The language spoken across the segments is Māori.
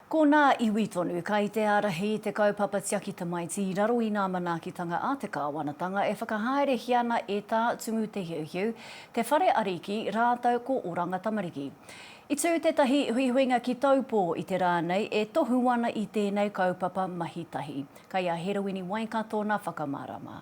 Ko nā iwi tonu kai te ārahi i te kaupapa tiaki tamaiti i raro i nā manaakitanga a te Kāwanatanga e whakahaerehia ana e Tā Tumu Te Hiuhiu, Te Whare Ariki rātou ko Oranga Tamariki. I tū tētahi huihuinga ki Taupō i te rā nei e tohu ana i tēnei kaupapa mahi tahi. Kai a Heroini Waikato nā whakamārama.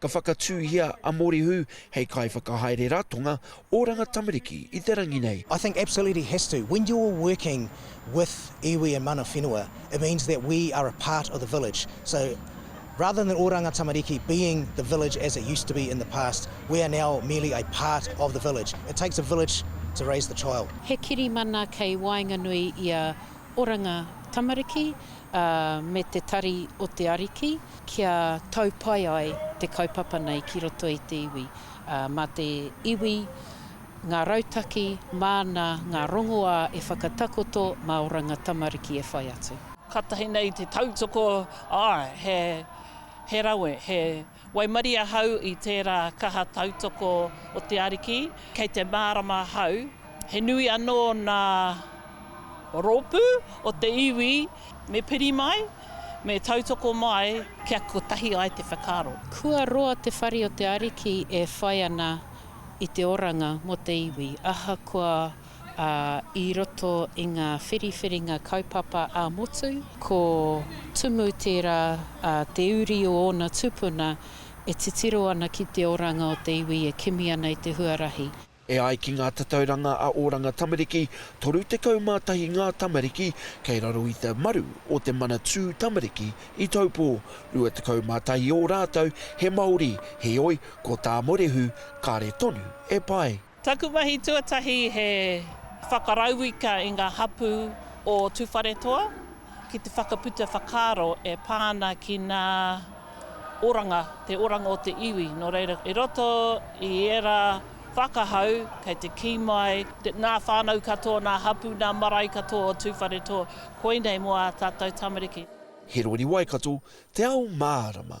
Ka whakatūhia a Morihu hei kaiwhakahaere ratonga oranga tamariki i te rangi nei. I think absolutely has to. When you're working with iwi and mana whenua, it means that we are a part of the village. So rather than oranga tamariki being the village as it used to be in the past, we are now merely a part of the village. It takes a village to raise the child. He kirimana kei waenganui i a oranga tamariki, ā, me te tari o te Ariki. kia tau pai ai te kaupapa nei ki roto i te iwi, ā, mā te iwi, ngā rautaki, māna, ngā rongoā e whakatakoto, mā Oranga Tamariki e whai atu. Kātahi nei te tautoko, āe, he, he rawe, he waimarie ahau i tērā kaha tautoko o te Ariki, kei te mārama ahau, He nui anō ngā rōpū o te iwi me piri mai, me tautoko mai kia kotahi ai te whakaaro. Kua roa te whare o te Ariki e whai ana i te oranga mō te iwi, ahakoa i roto i ngā whiriwhiringa kaupapa ā-motu, ko Tumu tērā te uri o ōna tupuna e titiro ana ki te oranga o te iwi e kimi ana i te huarahi. E ai ki ngā tatauranga a Oranga Tamariki, 31 ngā tamariki kei raro i te maru o te Manatū Tamariki i Taupō, 21 ō rātou he Māori, heoi, ko tā Morehu, kāre tonu e pai. Taku mahi tuatahi he whakarauika i ngā hapū o Tūwharetoa ki te whakaputa whakaaro e pā ana ki ngā. Oranga, te oranga o te iwi, nō reira, i roto i ērā whakahau, kei te kī mai, nā whānau katoa, nā hapū, nā marae katoa o Tūwharetoa, koinei mō ā tātou tamariki. He rori Waikato, te ao mārama.